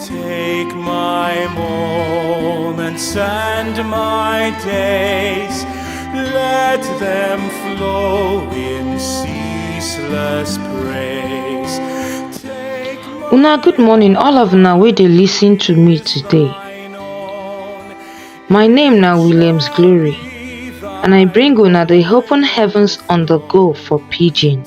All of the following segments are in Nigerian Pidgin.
Take my moments and my days, let them flow in ceaseless praise. Take my Una good morning all of una wey dey listen to me today. mine own, My name na Williams Glory and I bring una the open heavens on the go for pidgin.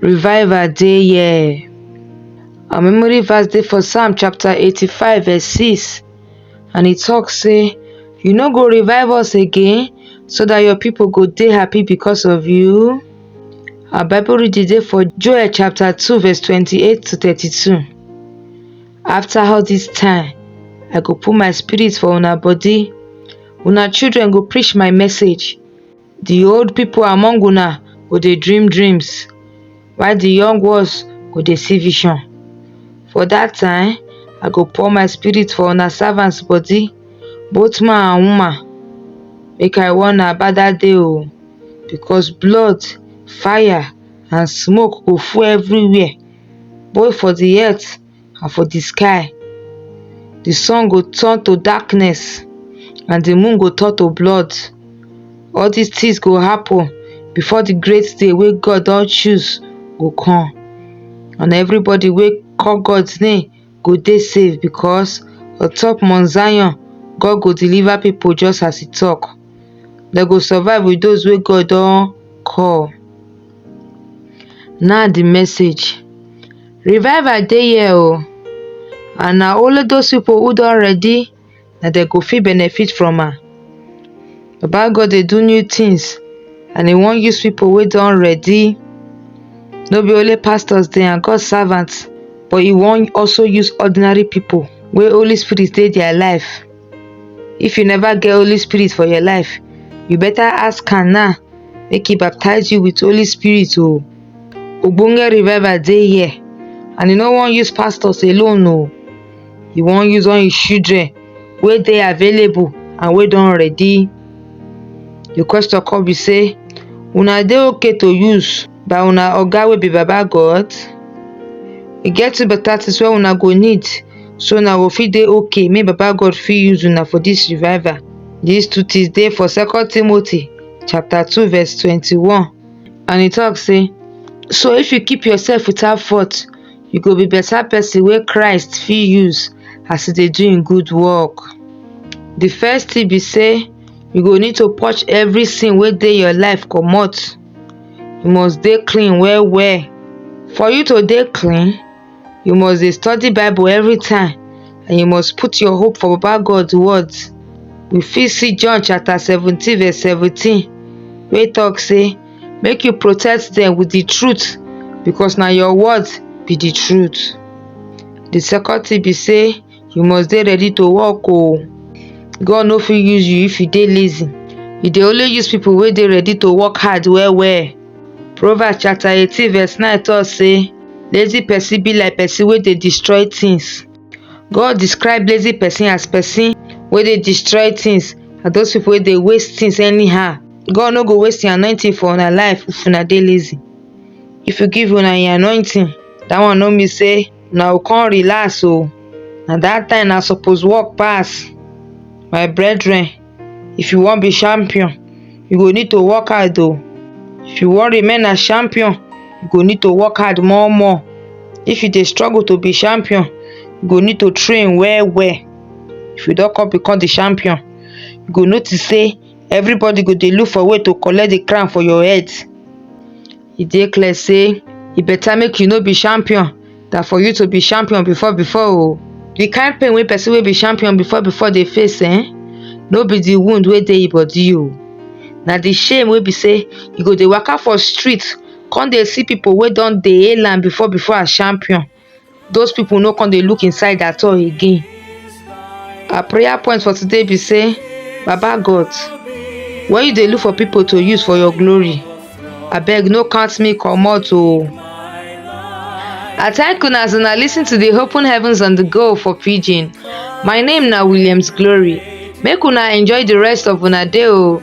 Revival dey here. Our memory verse dey for Psalm chapter 85 verse 6 and e talk say you no go revive us again so that your people go dey happy because of you. Our Bible reading dey for Joel chapter 2 verse 28 to 32. After all this time, I go put my spirit for una body. Una children go preach my message. Di old pipo among una go dey dream dreams, while di young ones go dey see vision. For dat time, I go pour my spirit for una servants body, both man and woman. Make I warn una about dat day o, because blood, fire and smoke go full everywhere, both for di earth. and for di sky di sun go turn to darkness and di moon go turn to blood all dis tins go happun bifor di great day wey God don choose go come and evribodi wey call God name go dey safe bicos on top mount Zion God go deliver pipo just as e tok dem go survive wit dose wey God don call na di message. Revival dey here oh and na only those people who don ready na dem go fit benefit from am. Baba God dey do new things and he wan use people wey don ready. No be only pastors dey and God servants but he wan also use ordinary people wey Holy Spirit dey their life. If you never get Holy Spirit for your life, you better ask am now make he baptize you with Holy Spirit o. Oh. Ogbonge revival dey here and he no wan use pastors alone o. Oh. He wan use all his children wey dey available and wey don ready. The question come be say una dey okay to use by una oga wey be baba God? E get two better things wey una go need so una go fit dey okay make baba God fit use una for this revival these two things dey for second Timothy chapter 2 verse 21 and he talk say so if you keep yourself without fault you go be better person wey Christ fit use as e dey do im good work the first thing be say you go need to purge every sin wey dey your life comot you must dey clean well well for you to dey clean you must dey study bible every time and you must put your hope for baba god words we fit see john chapter 17 verse 17 wey talk say make you protect them with the truth because na your words be the truth the second thing be say you must dey ready to work o God no fit use you if you dey lazy e dey only use people wey dey ready to work hard well well Proverbs chapter eighteen verse nine talk say lazy person be like person wey dey destroy things God describe lazy person as person wey dey destroy things and those people wey dey waste things anyhow God no go waste him anointing for una life if una dey lazy if you give una him anointing that one no mean say una go come relax o na that time na suppose work pass my brethren if you wan be champion you go need to work hard o if you wan remain as champion you go need to work hard more more if you dey struggle to be champion you go need to train well well if you don come become the champion you go notice say everybody go dey look for way to collect the crown for your head e dey clear say e better make you no be champion than for you to be champion before before o the kind pain wey person wey be champion before before dey face eh no be the wound wey dey e body o na the shame wey be say you go dey waka for street come dey see people wey don dey hail am before before as champion those people no come dey look inside at all again our prayer point for today be say baba god when you dey look for people to use for your glory abeg no count me comot o i thank una as una lis ten to the open heavens on the go for pidgin my name na williams glory make una enjoy the rest of una day o